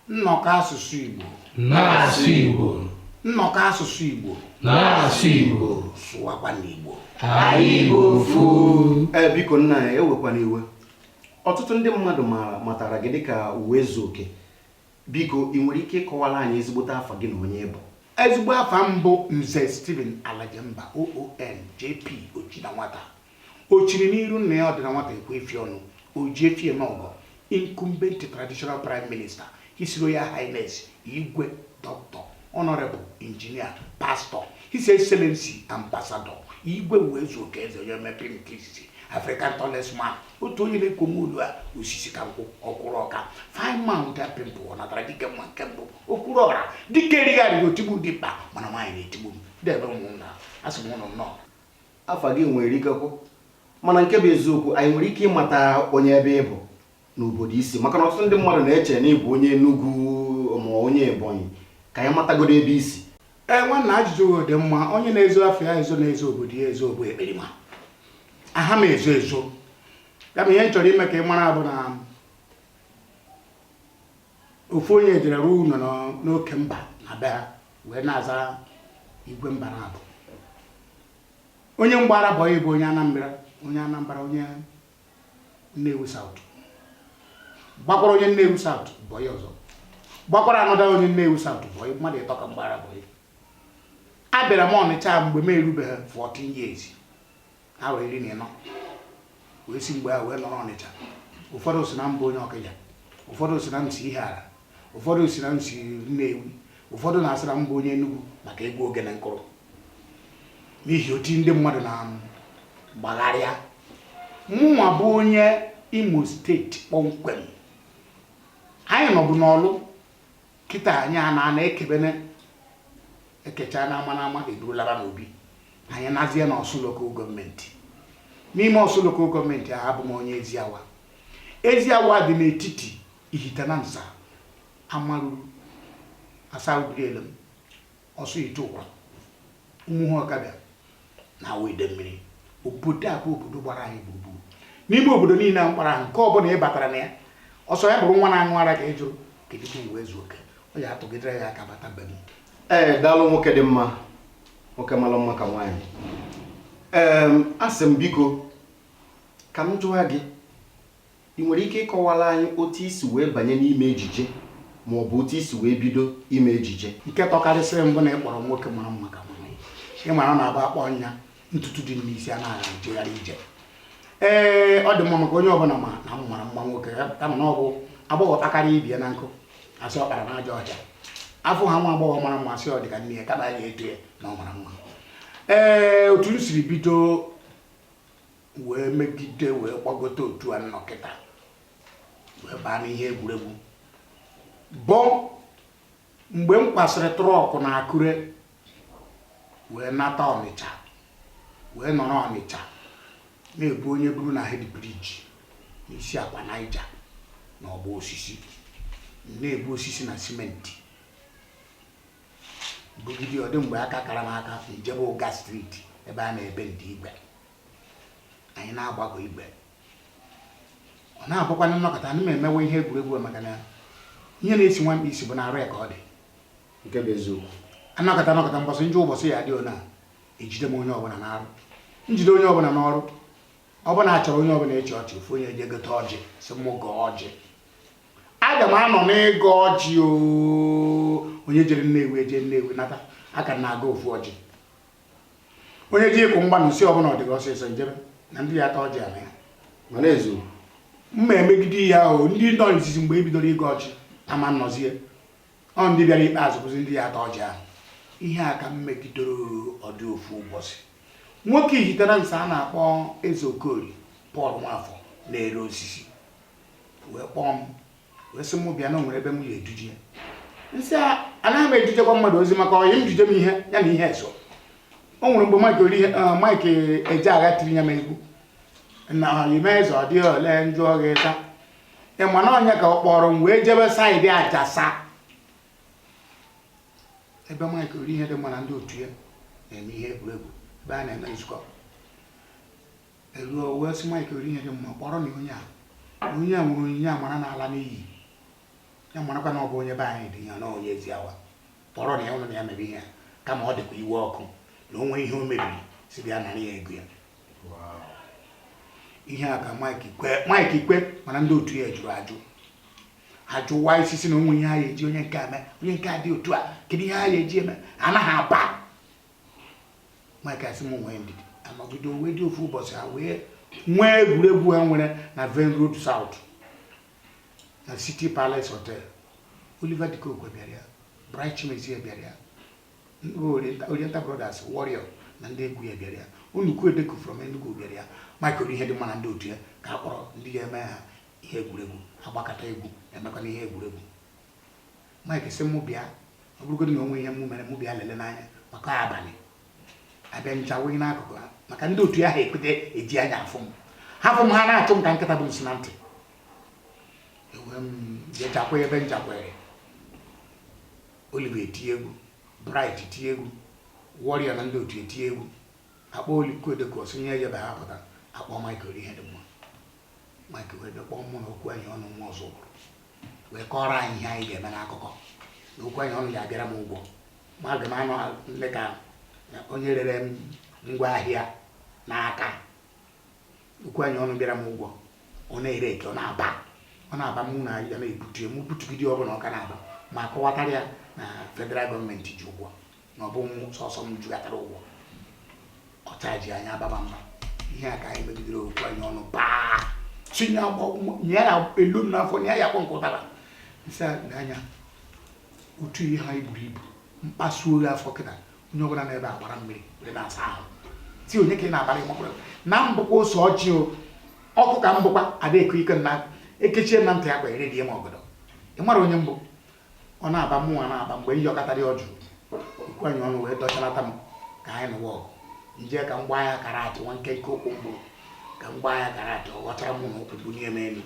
Nnọkọ asụsụ Igbo na-asụ Igbo Nnọkọ asụsụ Igbo na-asụ Igbo sụwakwa n'Igbo anyị bụ ofu ee eh, biko nna ya ewekwana iwe ọtụtụ ndị mmadụ maara matara gị dịka Ụwaezuoke biko ị nwere ike ịkọwara anyị ezigbote afa gị na onye ị bụ ezigbo afa m bụ nze Stephen Alajemba OON JP Ochida nwata O chiri n'iru nna ya ọdịna nwata ekwe efi ọnụ, o ji efi eme ọgọ, incumbent traditional prime minister, His Royal Highness Igwe Doctor Honorable Engineer Pastor His Excellency Ambassador Igwe Ụwaezuoke Eze onye mepere nke izizi African tallest man otu onye na-ekwo nwa olu a osisi ka nkwụ ọkwụrụ ọka fine man with a pimple ọ natara dike mma nke mbụ okwuru ọra dike erigharịghị otigbu dimkpa mana nwaanyị na-etigbu m debe ụmụnna asị m ụnụ nnọọ afa gị nwere ike ikwu mana nke bụ eziokwu anyị nwere ike ịmata onye ebe ị bụ na obodo i si maka na ọtụtụ ndị mmadụ na-eche na ị bụ onye Enugu ma onye Ebonyi ka anyị matagodo ebe i si ee nwanna ajụjụ gị dị mma onye na-ezo afa ya ezo na-ezo obodo ya ezo bụ ekperima aha m ezo ezo ya bụ ihe m chọrọ ime ka ị mara bụ na Ofu onye jere rụọ ụnọ n'oke mba na be ha wee na-aza igwe mba naabọ onye m gbaara bọyị bụ onye Anambra onye Anambra onye Nnewi South gbakwaara onye Nnewi South bọyị ọzọ gbakwaara another onye Nnewi South bọyị mmadụ ịtọ ka m gbaara bọyị abịara m Ọnịcha mgbe m erubeghị 14 years afọ iri na ịnọ wee si mgbe a wee nọrọ Ọnịcha ụfọdụ sị na m bụ onye Ọkịja ụfọdụ sị na m si Ihiala ụfọdụ sị na m si Nnewi ụfọdụ na-asị na m bụ onye Enugwu maka egwu ogene m kụrụ n'ihi oti ndị mmadụ na-agbagharị ya mụnwa bụ onye Imo State kpọmkwem anyị nọbu n'Ọlụ kịta anyị a na-ana ekebene ekecha na ama na ama e buru laba n'obi anyị nọzie na Ọsụ Local Government n'ime Ọsụ Local Government ahụ abụ m onye Eziawa Eziawa dị n'etiti Ihitenansa Amaruru Asaa Ubirielem Ọsụihiteụkwa Ụmụhụ Ọkabịa na Awo Idemili obodo a bụ obodo gbara anyị gburugburu n'ime obodo niile a m kpọrọ aha nke ọ bụla ị batara na ya ọ sọ ya bụrụ nwa na-aṅụ ara ka ị jụrụ kedu ka Ụwaezuoke ọ ya atụgidere gị aka bata be m ee daalụ nwoke dị mma nwoke mara mma ka nwaanyị ee asị m biko ka m jụwa gị I nwere ike ịkọwara anyị otu i si wee banye n'ime ejije ma ọ bụ otu i si wee bido ime ejije? Nke tọkarịsịrị m bụ na ị kpọrọ nwoke mara mma ka mụ. Ị mara na abụ akpọ nya ntutu dị n'isi a na-agha ejegharị ije. Ee, ọ dị mma maka onye ọbụla ma na m mara mma nwoke ya kama na ọ bụ agbọghọ kpakarịa ibie na nkụ a sị ọ kpara n'ajọ ọhịa. Afụ ha nwa agbọghọ mara mma a sị ọ dị ka nne ya kama ya eto ya na ọ mara mma. Ee, otu m siri bido wee megide wee gbagote otu a m nọkata wee baa n'ihe egwuregwu bụ mgbe m kwasịrị trọkụ na akure wee nata ọnịcha wee nọrọ ọnịcha na-ebu onye buru na hed briji n'isi akwa naija na ọgbọ osisi na-ebu osisi na simenti bugide ọ dị mgbe aka kara m aka m jebe ụga streeti ebe a na-ebe ndị igwe anyị na-agbagọ igwe ọ na-abụkwanụ m nọkata ana m emewe ihe egwuregwu maka na ihe na-esi nwa mkpi isi bụ n'arụ ya ka ọ dị nke bụ eziokwu a nọkata a nọkata mbọsị njọ ụbọchị ya dị ona ejide m onye ọbụla n'arụ m jide onye ọbụla n'ọrụ ọbụla achọrọ onye ọbụla ịchị ọchị ofu onye eje gote ọjị sị mụ gọọ ọjị aga m anọ n'ịgọ ọjị onye jere nnewi eje nnewi nata aka m na-agọ ofu ọjị onye ji ịkụ mgba m sị ọ bụ na ọ dị gị ọsịsọ i jebe na ndị ya ata ọjị ala ya mana ezu mma emegide ihe ahụ ndị nọ n'izizi mgbe e bidoro ịgọ ọjị ama nọzie ọ ndị bịara ikpeazụ bụzi ndị ya ata ọjị ahụ ihe a ka m megidoro ọ dị ofu ụbọchị nwoke Ihitenansa a na-akpọ eze okori pọl nwafọ na-ere osisi wee kpọọ m wee sị m bịa na o nwere ebe m ya eduje ya m sị anaghị m edujekwa mmadụ ozi maka ọyị m jije m ihe ya na ihe eso o nwere mgbe Mike ori Mike Ejeagha tiri ya n'egwu na ọyị m eze ọ dịghị ole m jụ ọghị ta ị ma na ọnya ka ọ kpọrọ m wee jebe saịdị ajasa ebe Mike Orihedịmma na ndị otu ya na-eme ihe egwuregwu ebe a na-eme nzukọ E ruo wee sị Mike Orihedịmma kpọrọnụ onye a onye a nwere onyinye amara na-ala n'iyi ya marakwa na ọ bụ onye be anyị dị ya na onye Eziawa kpọrọnụ ya ụnụ na ya mere ihe a kama ọ dịkwa iwe ọkụ na o nwee ihe o mebiri sị bịa nara ya ego ya ihe a ka Mike kwe Mike kwe mana ndị otu ya jụrụ ajụ ajụwa isi sị na o nwe ihe ha ya eji onye nke a mee onye nke a dị otu a kedu ihe ha ya eji eme anaghị aba Mike sị m nwee ndidi anọgide o wee dị ofu ụbọchị ha wee nwee egwuregwu ha nwere na Venn Road South na City Palace Hotel Oliver De Coque bịara ya Bright Chimezie bịara ya Oriental Brothers Warrior na ndị egwu ya bịara ya Unuku Edeku from Enugu bịara ya Michael ihe dị mma na ndị otu ya ka a kpọrọ ndị ga-eme ha ihe egwuregwu agbakata egwu emekwana ihe egwuregwu Mike sị mụ bịa ọ bụrụgodị na o nwe ihe mụ mere mụ bịa lele n'anya maka abalị abịa ncha wụghị n'akụkụ ha maka ndị otu ya ha ekweta eji anya afụ m ha fụ m ha na-achụ m ka nkịta bu nsị na ntị e wee m jechakwa ebe nchakwere Oliver etie egwu Bright etie egwu Warrior na ndị otu etie egwu akpọ Oliko Odeko sonye ejebe ha pụta akpọ Michael ihe dị mma Michael wee bịa kpọọ mụ na okwu anyị ọnụ nwa Ọzụbụlụ wee kọọrọ anyị ihe anyị ga-eme n'akụkọ na okwu anyị ọnụ ya abịara m ụgwọ ma aga m anọ dị ka onye rere m ngwa ahịa n'aka okwu anyị ọnụ bịara m ụgwọ ọ na-ere eke ọ na-aba ọ na-aba mụ na ya na-ebute m butugide ọbụla ọ ka na-aba m akọwatara ya na federal gọọmenti ji ụgwọ na ọ bụ m sọsọ m jikatara ụgwọ ọ chajie anya baba mba ihe a ka anyị megidere okwu anyị ọnụ paa tinye nye ya elu m n'afọ nye ya akwa nke ụtara nsị anya otu ihe ha i buru ibu m kpasuo ya afọ kịta onye ọbụla n'ebe a gbara mmiri were na-asa ahụ m tie onye ka ị na-abara ị makwara na m bụkwa ose ọjị o ọkụ ka m bụkwa ada eko ike na ekechie na ntị ya kwa ere die ma ọgọdọ ị mara onye m bụ ọ na-aba mụnwa na-aba mgbe m yọkatara ọ jụ okwu anyị ọnụ wee dọchalata m ka anyị nụwa ọgụ m je ka m gbaa ya karate nwa nkenke ụkwụ m buru ka m gbaa ya karate ọ ghọtara mụ na ụkwụ bunie m elu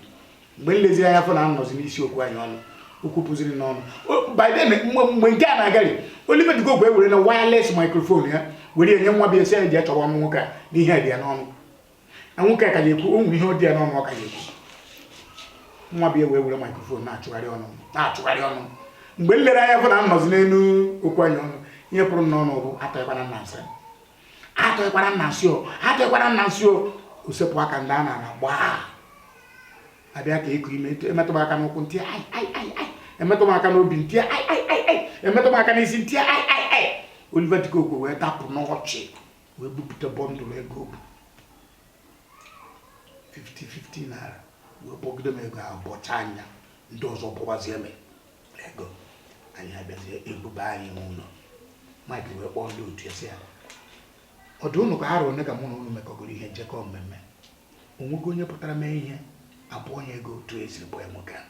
mgbe m leziri anya fụ na m nọzi n'isi okwu anyị ọnụ okwu pụziri n'ọnụ biden mgbe nke a na-agari Oliver De Coque were na wireless microphone ya were nye nwa boy sị ya je chọwa ọnụ nwoke a na ihe dị ya n'ọnụ na nwoke a ka ya ekwu o nwere ihe ọ dị ya n'ọnụ ọ ka ya ekwu nwa boy a wee were microphone na-achọgharị ọnụ m, na-achọgharị ọnụ m. mgbe m lere anya fụ na m nọzi n'elu okwu anyị ọnụ ihe pụrụ m n'ọnụ bụ atụkwana m n'ana m sị atụkwana m n'ana m sị o atụkwana m n'ana m sị o o sepụ aka m daa n'ana gbaa abịa ka e kunie m etu- emetụ m aka n'ụkwụ m tie ai ai ai ai emetụ m aka n'obi m tie ai ai ai ai emetụ m aka n'isi m tie ai ai ai Oliver De Coque wee dapụ n'ọchị wee bupụta bọndụlụ ego o bu 50 50 naira wee kpọgide m ego ahụ bọcha anya ndị ọzọ bụwazie m ego anyị abịazie ebube anyị n'ụlọ Mike wee kpọọ ndị otu ya sị ha ọ dị ụnụ ka ha rụrụ ka mụ na ụnụ mekọgoro ihe njekọ mmemme o nwego onye pụtara mee ihe a bụọ ya ego otu e si bụọ nwoke ahụ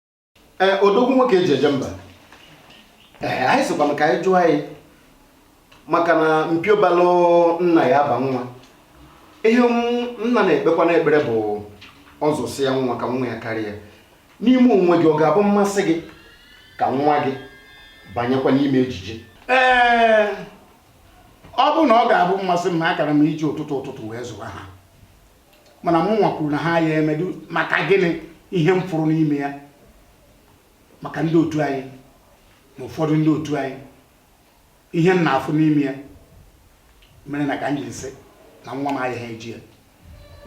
ee odogwu nwoke eji eje mba ee anyị sịkwanụ ka anyị jụọ gị maka na mpio balụ nna ya aba nwa ihe m- nna na-ekpekwa n'ekpere bụ ọ zụsịa nwa ka nwa ya karịa ya n'ime onwe gị ọ ga-abụ mmasị gị ka nwa gị banyekwa n'ime ejije ee ọ bụ na ọ ga-abụ mmasị m na akara m iji ụtụtụ ụtụtụ wee zụwa ha mana mụ nwa kwuru na ha ya emedu maka gịnị ihe m fụrụ n'ime ya maka ndị otu anyị na ụfọdụ ndị otu anyị ihe m na-afụ n'ime ya mere na ka m jiri sị na nwa m ayaha eji ya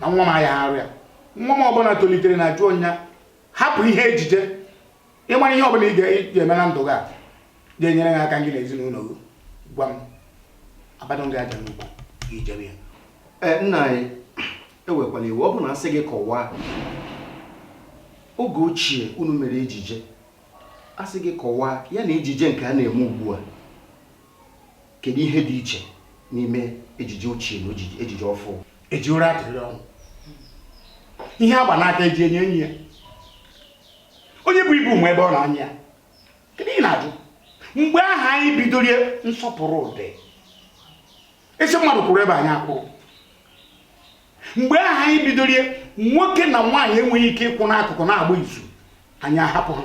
na nwa m ayaha arụ ya nwa m ọbụla tolitere na jụọ nya hapụ ihe ejije ịmara ihe ọbụla ị ga-eme na ndụ gị a ga-enyere gị aka gị na ezinụlọ gị gwa m abadụ gị aja n'ukwu gị ejebe ya e, nna anyị ewekwala iwe ọ bụ na asị gị kọwaa oge ochie unu mere ejije asị gị kọwaa ya na ejije nke a na-eme ugbu a kedu ihe dị iche n'ime ejije ochie na ejije ọfụụ eji ụra atụrị ọnwụ ihe agba n'aka eji enyo enyo ya onye bu ibu ma ebe ọ na-anyị ya kedu ihe ị na-ajụ mgbe ahụ anyị bidoro ya nsọpụrụ dị ị sị mmadụ kwụrụ ebe a nya akwụrụ mgbe ahụ anyị bidoro ya nwoke na nwaanyị enweghị ike ịkwụ n'akụkụ na-agba izu anyị ahapụ ha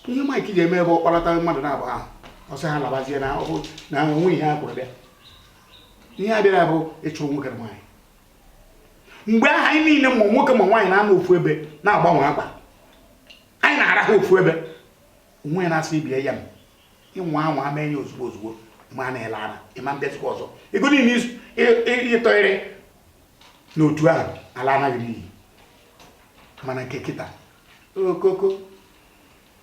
ihe maịkị ji eme ebe ọ kpalata mmadụ naabọ ahụ ọ sị ha labazie na onwe ihe a kwụrụ bịa ihe ha bịara bụ ịchụrụ nwoke na nwaanyị mgbe ahụ anyị niile ma nwoke ma nwaanyị na-anọ ofu ebe na-agbanwe akwa anyị na-arahụ ofu ebe onwe onye na-asị ibe ya m ị nwaa anwa mee ya ozugbo ozugbo ma ị na-ala ala ịma mbịazikwa ọzọ ego niile ịtọgharị n'otu ahụ alana gị n'iyi mana nke kịta okoko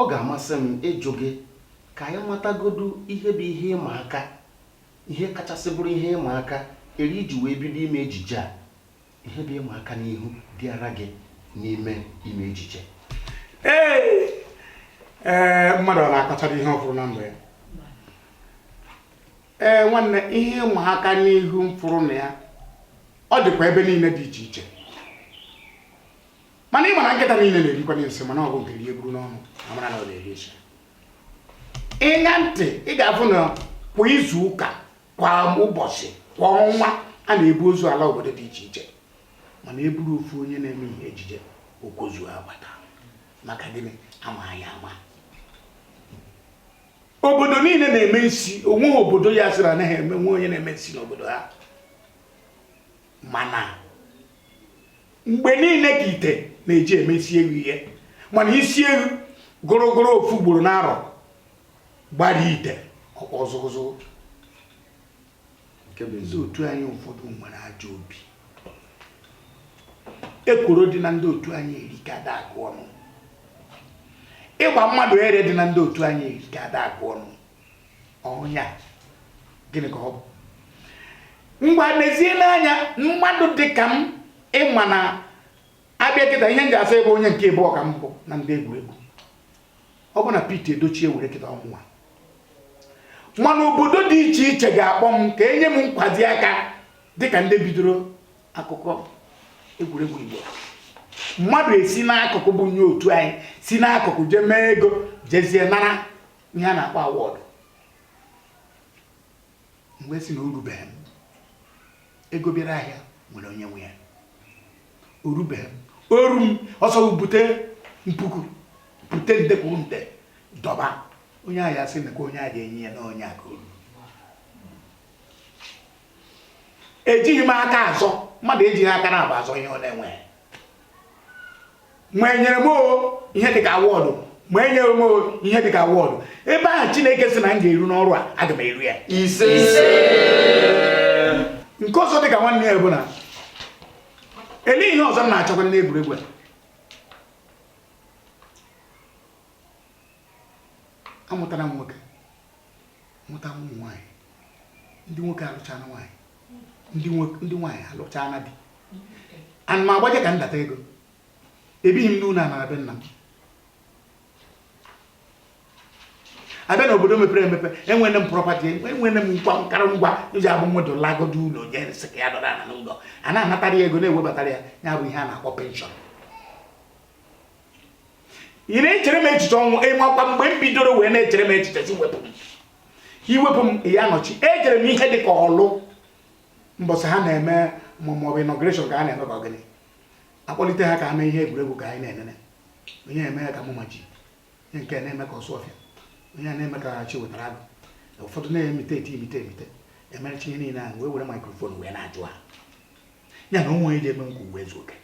Ọ ga-amasị m ịjụ gị ka anyị matagodu ihe bụ ihe ịma aka, ihe kachasị bụrụ ihe ịma aka ere i ji wee bido ime ejije a. Ihe bụ ịma aka n'ihu bịaara gị n'ime ime ejije? Ee, ee, mmadụ ọ na-akọchara ihe ọ fụrụ na ndụ ya? Ee, nwanne, ihe ịma aka n'ihu m fụrụ na ya, ọ dịkwa ebe niile dị iche iche. mana ị ma na nkịta niile na-erikwanye nsị mana ọ bụ nke rie buru n'ọnụ amara na ọ na-eri nsị ị ṅaa ntị ị ga-afụ na kwa izu ụka kwa ụbọchị kwa ọnwa a na-ebu ozu ala obodo dị iche iche mana eburu ofu onye na-eme ihe ejije o kozuo agbata maka gịnị ama anyị ama obodo niile na-eme nsi onweghị obodo ya-asị na ha enwe onye na-eme nsi n'obodo ha mana mgbe niile ka ite na-eji eme isi ewu ihe mana isi ewu gụrụgụrụ ofu ugboro n'arọ gbara ite ọkpọ zụgụzụgụ ndị otu anyị ụfọdụ nwere ajọ obi ekworo dị na ndị otu anyị erika ada agụ ọnụ ịgba mmadụ ere dị na ndị otu anyị erika ada agụ ọnụ ọnya gịnị ka ọ bụ ngwa mezie n'anya mmadụ dị ka m ịma na abịa kịta ihe m ji asa ebe onye nke abụọ ka m bụ na ndị egwuregwu ọ bụ na Pete Edochie e were kịta ọ mụnwa mana obodo dị iche iche ga-akpọ m ka enye m nkwado aka dịka ndị bidoro akụkọ egwuregwu Igbo mmadụ esi n'akụkụ bụ onye otu anyị si n'akụkụ jee mee ego jezie nara ihe a na-akpọ awọdụ m wee sị na o rubeghị m ego bịara ahịa nwere onye nwe ya o rubeghị m o ru m ọsọ bute mpuku bute nde kwuru nde dọba onye ahụ ya sị na onye a ga-enye ya na onye a ka o ru ejighị m aka azọ mmadụ ejighị aka naabọ azọ ihe ọ na-enweghị ma enyere m ihe dịka awọdụ ma enyere m ihe dịka awọdụ ebe ahụ Chineke sị na m ga-eru n'ọrụ a aga m eru ya ise nke ọzọ dịka nwanne ya bụ na ele ihe ọzọ m na-achọkwa n'egwuregwu a amụtara m nwoke mụta ụmụ nwaanyị ndị nwoke alụchana nwaanyị ndị nwaanyị alụchaa na di ana m agbaje ka ndata ego ebighị m n'ụlọ ana be nna m abịa na obodo mepere emepe enwere m property enwere m nkwa nkara ngwa e ji abụ mmadụ lagodo ụlọ onye sị ka ya dọrọ ana n'ụlọ a na-anatara ya ego na-ewebatara ya ya bụ ihe a na-akpọ pension ị na-echere m echiche ọnwụ ịmakwa mgbe m bidoro wee na-echere m echiche iwepụ m iwepụ m ya nọchi ejere m ihe dị ka Orlu mbọsị ha na-eme maọbụ inauguration ka a na-eme ka ọ gịnị akpọlite ha ka ha mee ihe egwuregwu ka anyị na-enene onye eme ya ka Mama G onye nke na-eme ka Osuofia onye na-eme ka Chiwetalu Agu ụfọdụ na-emite eti emite emite emechaa ihe niile ahụ wee were microphone wee na-ajụ ha ya na o nwe onye ji eme nke mụ wee zuo oke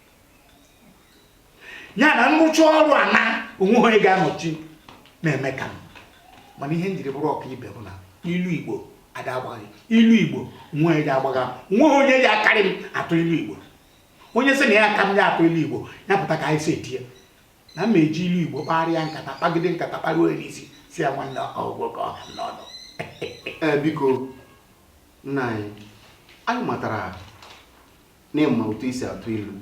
ya na m rụchaa ọrụ a na o nwe onye ga-anọchi na-eme ka m mana ihe m jiri bụrụ ọkaibe bụ na ilu igbo ada agbagha ilu igbo o nwe onye ji agbagha o nwe onye ji akarị m atụ ilu igbo onye sị na ya ka m ya atụ ilu igbo ya pụta ka anyị si etinye na m eji ilu igbo kparịa nkata kpagide nkata kparịa onye isi sị ya nwanne ọ gwụgwo ka ọ ha n'ọnụ eh, biko nna anyị anyị matara n'ịma otu esi atụ ilu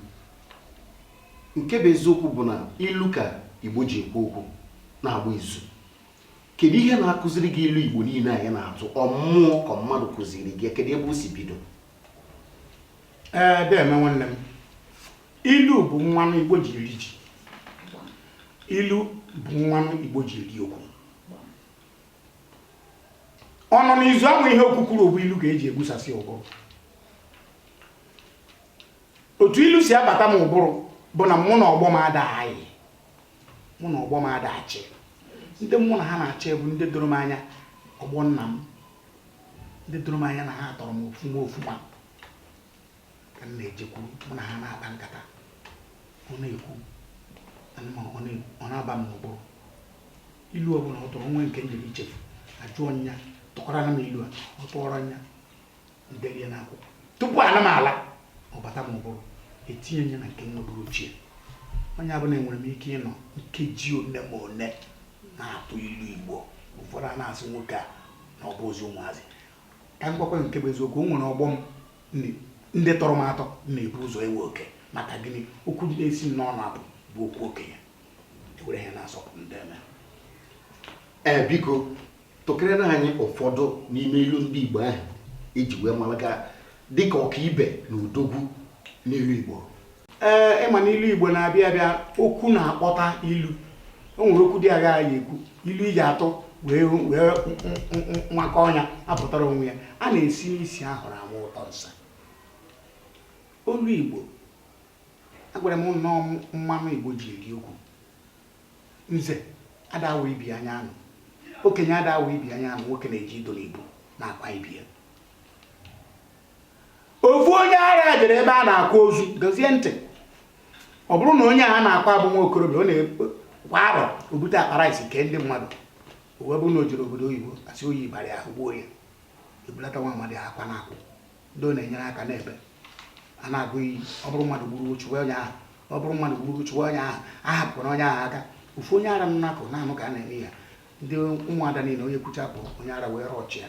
nke bụ eziokwu bụ na ilu ka igbo ji ekwu okwu na-agba izu kedu ihe na-akụziri gị ilu igbo niile ahụ ị na-atụ ọ mmụọ ka mmadụ kụziri gị kedu ebe o si bido ee deeme nwanne m ilu bụ mmanụ igbo ji eri ji ilu bụ mmanụ igbo ji eri okwu ọ nọ n'izu ama ihe okwu kwuru bụ ilu ka eji egbusasị okwu otu ilu si abata m ụbụrụ bụ na mụ na ọgbọ m ada ayị mụ na ọgbọ m ada achị ndị mụ na ha na-achị bụ ndị doro m anya ọgbọ nna m ndị doro m anya na ha tọrọ m ofuma ofuma ka m na-ejekwuru mụ na ha na-akpa nkata ọ na-ekwu ọ na-aba m n'ụbụrụ ilu ọ bụla ọ tụrụ nwee nke m jere ichefu ajụọ nya tụkwaranụ m ilu a ọ tụọrọ nya ndelie n'akwụkwọ tupu ana m ala ọ bata m ụbụrụ etinye nya na nke nwa bụrụ ochie onye ọbụla enwere m ike ịnọ nkeji one ma one na-atụ ilu igbo ụfọdụ a na-asị nwoke a na ọ bụ ozi ụmụazị ka m gwakwa nke bụ eziokwu o nwere ọgbọ m ndị tọrọ m atọ na-ebu ụzọ ewe oke maka gịnị okwu ndị na-esi m n'ọnụ apụ bụ okwu okenye ewere ha na-asọpụrụ m deeme ee biko tụkịrịna anyị ụfọdụ n'ime ilu ndị Igbo ahụ eji wee mara gị dịka ọkaibe na odogwu n'ilu Igbo ee ịma na ilu igbo na-abịa abịa okwu na-akpọta ilu o nwere okwu dị agha ya ekwu ilu iji atụ wee wee nwakọ ọnya apụtara onwe ya a na-esi n'isi ahụrụ ama ụtọ nsị ilu igbo agwara m na ọ mmanụ igbo ji eri okwu nze ada awa ibi anya anụ okenye ada awa ibi anya anụ nwoke na-eji idu na igbo na-akwa ibi ya ofu onye ara jere ebe a na-akwa ozu dozie ntị ọ bụrụ na onye a na-akwa bụ nwa okorobịa ọ na-kwa arọ obute akpa rice kee ndị mmadụ uwe bụ na o jere obodo oyibo asị oyi bara ahụ gbuo ya ebulata nwa amadi akwa na akwụ ndị ọ na-enyere aka n'ebe a na-agọ iyi ọ bụrụ mmadụ gburu chụwa onye ahụ ọ bụrụ mmadụ gburu chụwa onye ahụ ahana onye ahụ aka ofu onye ara nọ n'akụkụ na-anụ ka a na-eme ya ndị ụmụada niile onye kwucha bụ onye ara were ọchị a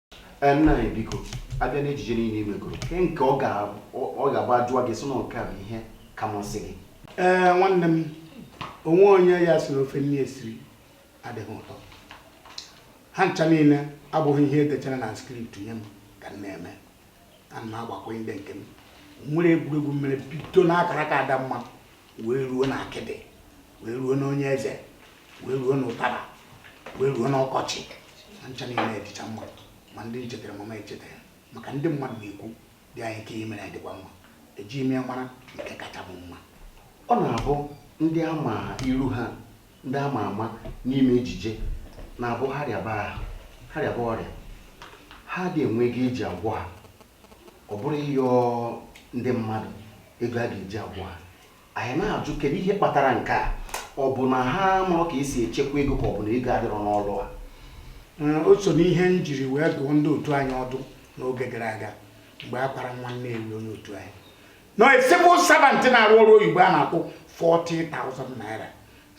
Ee, nna anyị biko abịa n'ejije niile i megoro ke nke ọ ga- ọ- ọ ga-abụ ajụwa gị ị sị na nke a bụ ihe ka masị gị ee nwanne m o nwe onye ya-asị na ofe nri esiri adịghị ụtọ ha ncha niile abụghị ihe edechara na script nye m ka m na-eme ana m agbakwunye ndị nke m nwere egwuregwu m mere bido n'akara aka Adamma wee ruo na akịdị wee ruo na onye eze wee ruo na ụtara wee ruo na ọkọchị ha ncha niile adịcha mma ma ndị m chetara mama echetara maka ndị mmadụ na-ekwu dị anyị nke emere anyị dịkwa mma eji ime mara nke kacha bụ mma ọ na-abụ ndị ama iru ha ndị ama ama n'ime ejije na-abụ ha rịaba ahụ ha rịaba ọrịa ha adị enwe ego eji agwọ ha ọ bụrụ ịyọ ndị mmadụ ego a ga-eji agwọ ha anyị na-ajụ kedu ihe kpatara nke a ọ bụ na ha amarọ ka esi echekwa ego ka ọ bụ na ego adịrọ n'ọlụ a o so n'ihe m jiri wee dụọ ndị otu anyị ọdụ n'oge gara aga mgbe a kwara nwanne anyị onye otu anyị na civil servant na-arụ ọrụ oyibo a na-akwụ 40,000 naira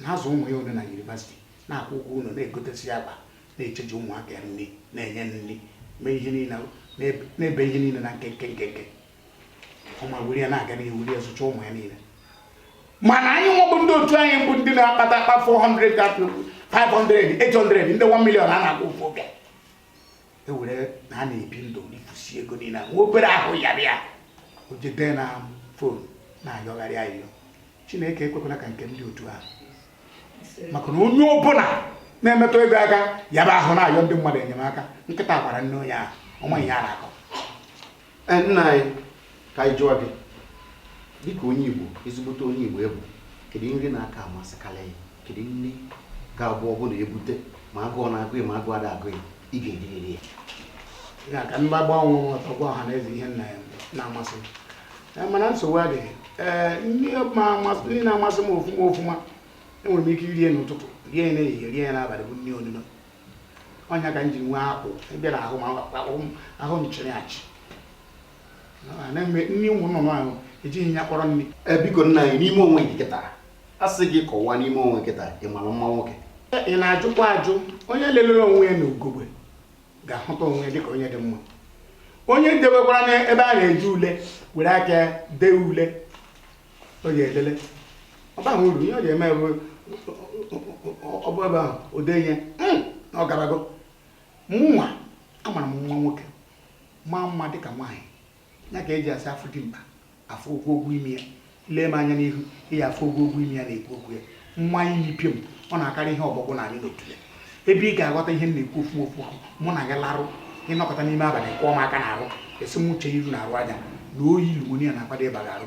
na-azụ ụmụ ya one na yunivasiti na-akwụ ụgwọ ụlọ na-egotesi ya akwa na-echeji ụmụaka ya nri na-enye nri mee ihe niile na-eme ihe niile na nkenke nkenke ọma were ya na-aga n'ihu were ya zụcha ụmụ ya niile mana anyị nwebụ ndị otu anyị bụ ndị na-akpata akpa 400 500 800 ndị 1 million a na-akwụ ofu oge ewere ya na-ebi ndụ rifusi ego niile nwa obere ahụ yaba ya o jede na fon na-ayọgharị ayọ chineke ekwekwala ka nke ndị otu ahụ maka na onye ọbụla na-emetụ ego aka yaba ahụ na-ayọ ndị mmadụ enyemaka nkịta gwara nne onye ahụ ọnwa ihe a na-akọ eh, nna anyị ka anyị jụọ gị dịka onye Igbo ezigbote onye Igbo ị bụ kedu nri na-aka amasịkarị gị kedu nri ga-abụ ọ bụrụ na ebute ma agụụ na-agụ ma agụụ ada agụ gị ị ga-eririri ya ya ka m na-agba onwe ọtọ gwa ọha na eze ihe nri na-amasị Eh, mana nsogbu adịghị ee eh, nri na-amasị m ofuma ofuma enwere m ike irie n'ụtụtụ rie ya n'ehihie rie ya n'abalị bụ nri onuno ọ ya ka m ji nwee akpụ ịbịa na ahụ ahụ m chịrị achị nri ụmụ nnụnụ ahụ ejighị ya kpọrọ nri eh, biko nna anyị n'ime onwe gị kịta a sị gị kọwaa n'ime onwe gị kịta ị mara mma nwoke ị na-ajụkwa ajụ onye lelere onwe ya na ugogbe ga-ahụta onwe ya dịka onye dị mma onye debekwara n'ebe a na-eji ule were aka dee ule ọ ga-elele ọ baghị uru ihe ọ ga-eme bụ ọ bụ ebe ahụ o dee ihe hmm, na ọ garago mụnwa amara m na nwoke maa mma dịka nwaanyị ya ka eji asị afụ dimkpa afụ ogwugwu imi ya lee m anya n'ihu ị ya-afụ ogwugwu imi ya na-ekwu okwu ya nwa anyị n'ipio m ọ na-akarị ihe ọgbọgbọ na anyị n'otu ya ebe ị ga-aghọta ihe m na-ekwu ofuma ofuma mụ na gị larụ ịnọkọta n'ime abalị kụọ m aka na arụ esi m uche iru na arụ aja na oyi pneumonia na-akwado ịba gị arụ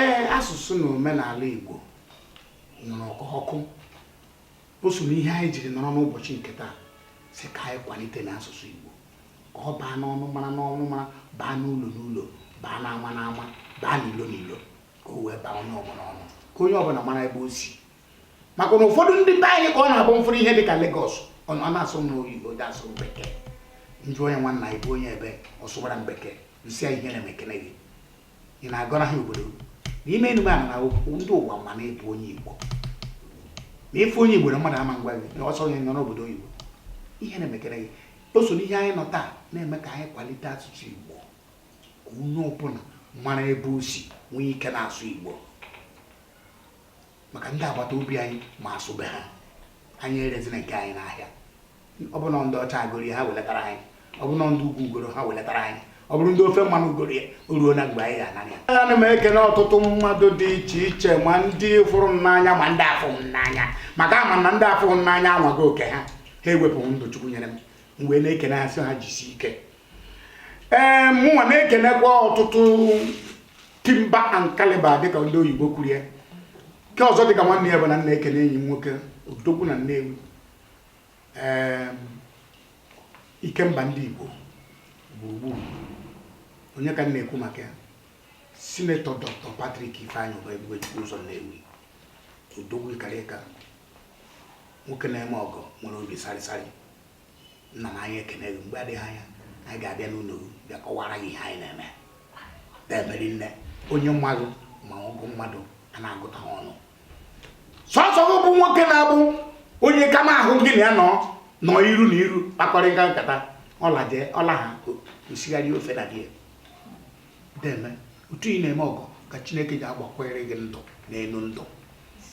ee asụsụ na omenala Igbo nwuru ka ọkụ o so n'ihe anyị jiri nọrọ n'ụbọchị nke taa sị ka anyị kwalite n'asụsụ Igbo ka ọ baa n'ọnụmara n'ọnụmara baa n'ụlọ n'ụlọ baa n'ama n'ama baa n'ilo n'ilo ka o wee baa onye ọbụla ọnụ ka onye ọbụla mara ebe o si maka na ụfọdụ ndị be anyị ka ọ na-abụ m fụrụ ihe dị ka Lagos ọ na-asụ m n'oyibo dị asụ m bekee m jụọ onye nwanna anyị bụ onye ebee ọ sụwara m bekee m sị ihe na-emekene gị ị na-agọra ha obodo n'ime enume a na ndị ụwa ma na ị bụ onye Igbo na ị fụ onye Igbo na mmadụ ama ngwa gị na ọsọ gị nọ n'obodo oyibo ihe na-emekene gị o so n'ihe anyị nọ taa na-eme ka anyị kwalite asụsụ Igbo ka onye ọbụla mara ebe o si nwee ike na-asụ Igbo maka ndị agbata obi anyị ma asụ be ha anyị erezina nke anyị n'ahịa ọ bụrụ na ndị ọcha goro ya ha welatara anyị ọ bụrụ na ndị ugwu goro ha welatara anyị ọ bụrụ ndị ofe mmanụ goro ya o ruona mgbe anyị ga-anara ya ana m ekele ọtụtụ mmadụ dị iche iche ma ndị fụrụ m n'anya ma ndị afụ m n'anya maka ama m na ndị afụ m n'anya anwago oke ha ha ewepụ ndụ chukwu nyere m m wee na-ekene ha sị ha jisi ike ee mụnwa na-ekenekwa ọtụtụ timber and caliber dịka ndị oyibo kwuru ya nke ọzọ dịka nwanne ya bụ na m na-ekene enyi m nwoke odogwu na nnewi ee ikemba ndị igbo gburugburu onye ka m na-ekwu maka ya sinetọ dr patrick ifeanyị ụba ebube chukwu ụzọ nnewi odogwu ị karịka nwoke na-eme ọgọ nwere obi sarịsarị nna m anyị ekene gị mgbe adịghị anya anyị ga-abịa n'ụlọ bịa kọwara gị ihe anyị na-eme na-emeri nne onye mmadụ ma ọgụ mmadụ a na-agụta ha ọnụ sọsọ gị bụ nwoke na-abụ onye ka ma ahụ gị na ya nọrọ iru na iru kpakọrịta nkata ọ laa jee ọ laa ha esigharịa ofe na gị deme otu ị na-eme ọgọ ka chineke ji agbakwere gị ndụ n'elu ndụ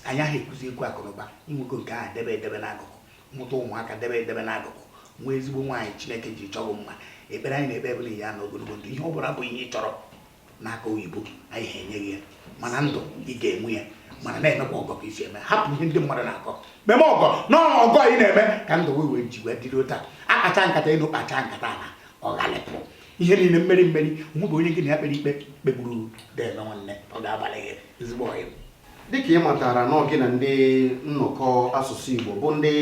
anyị ahụ ekwuzi ekwu akụnụba i nwego nke ahụ debe edebe n'akụkụ mụta ụmụaka debe edebe n'akụkụ nwee ezigbo nwaanyị chineke ji chọọ mma ekpere anyị na-ekpe bụ nye ya ogologo ndụ ihe ọ bụla bụ ihe ị chọrọ n'aka ndị be anyị ha enye gị ya mana ndụ ị ga-enwe ya mana na-emekwa ọgọ ka i si eme hapụ ihe ndị mmadụ na-akọ meme ọgọ na ọgọ ị na-eme ka ndụ wee wee ji wee dịrị otu a akpacha nkata ịnụ kpacha nkata na ọghalịpụ ihe niile mmeri mmeri mụ bụ onye gị na ya kpere ikpe kpegburu deme nwanne ọ ga-abalụ gị ezigbo ọyị dịka ị matara na ọ gị na ndị nnọkọ asụsụ Igbo bụ ndị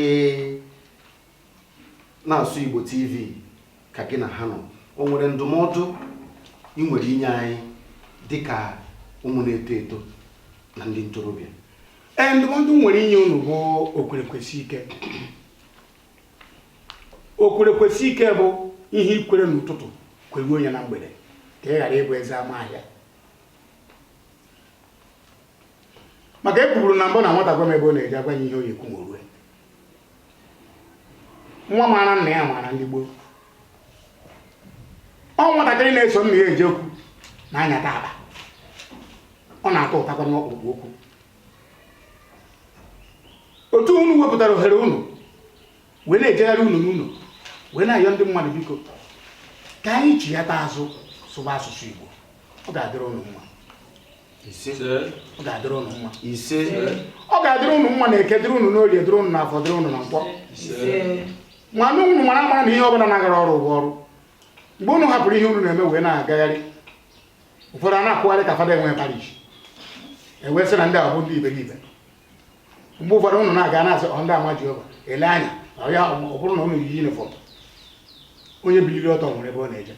na asụsụ Igbo TV ka gị na ha nọ o nwere ndụmọdụ ị nwere inye anyị dịka ụmụ na-eto eto na ndị ntorobịa ee ndụmọdụ m nwere inye unu bụ okwerekwesị ike okwerekwesị ike bụ ihe i kwere n'ụtụtụ kweruo ya na mgbede ka ị ghara ịbụ eze ama ahịa maka e kwuburu na mbụ na nwata gwa m ebe ọ na-eje agwa ya ihe ọ ya-ekwu ma o rue nwa maara nna ya maara ndị gboo ọ nwatakịrị na-eso nna ya eje okwu na-anyata aba ọ na-atụtakwanụ ọkpụrụkpụ okwu otu unu wepụtara ohere unu wee na-ejegharị ụlọ n'ụlọ wee na-ayọ ndị mmadụ biko ka anyị chighata azụ sụba asụsụ Igbo ọ ga-adịrị ụnụ mma ọ ga-adịrị ụnụ mma ise ọ ga-adịrị ụnụ mma n'eke dịrị ụnụ n'orie dịrị ụnụ n'afọ dịrị ụnụ na nkwọ mana ụnụ mara mara na ihe ọbụla na-agara ọrụ bụ ọrụ mgbe ụnụ hapụrụ ihe ụnụ na-eme wee na-agagharị ụfọdụ a na-akwụgharị ka fada enwe parish e wee sị na ndị a bụ ndị iberibe mgbe ụfọdụ ụnụ na-aga a na-asị ọ ndị ama Jehova ele anya ọ ya ọ bụrụ na ụnụ yi yunifọm onye biliri ọtọ nwere ebe ọ na-eje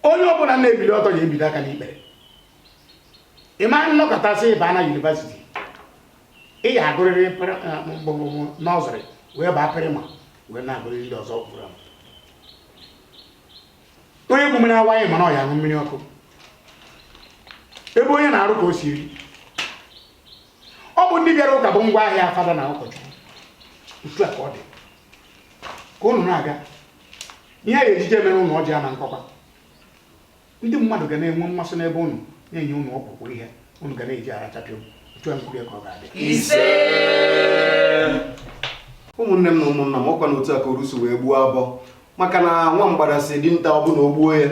onye ọbụla na-ebili ọtọ ya ebido aka n'ikpere ị ma anọkatasị baa na yunivasiti ị ya-agụrịrị nọsịrị wee baa praịmarị wee na-agụrịrị ndị ọzọ fọrọ onye ku mmiri awaị ma na ọ ya-aṅụ mmiri ọkụ ebe onye na-arụ ka o si eri ọ bụ ndị bịara ụka bụ ngwa ahịa fada na ụkọchukwu otu a ka ọ dị ka ụnụ na-aga ihe a ya-eji je mere ụnụ ọjị ama nkọkwa ndị mmadụ ga na-enwe mmasị n'ebe ụnụ na-enye ụnụ ọpụpụ ihe ụnụ ga na-eji arachapịa otu a nkwurie ka ọ ga-adị ụmụnne m na ụmụnna m ọkwa na otu a ka orusu wee gbuo abọ maka na nwa mgbada sị dinta ọ bụrụ na o gbuo ya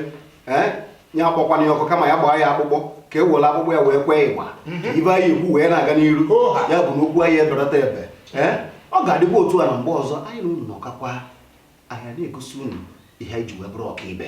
ee ya akpọkwana ya ọkụ kama ya gbaa ya akpụkpọ ka e were akpụkpọ ya wee kwee igba mhm. ibe anyị ekwu wee na-aga n'iru ya bụ na okwu anyị edọrọta ebe ee ọ ga-adịkwa otu a na mgbe ọzọ anyị na unu nọkọkwa anyị na-egosi unu ihe anyị ji wee bụrụ ọkaibe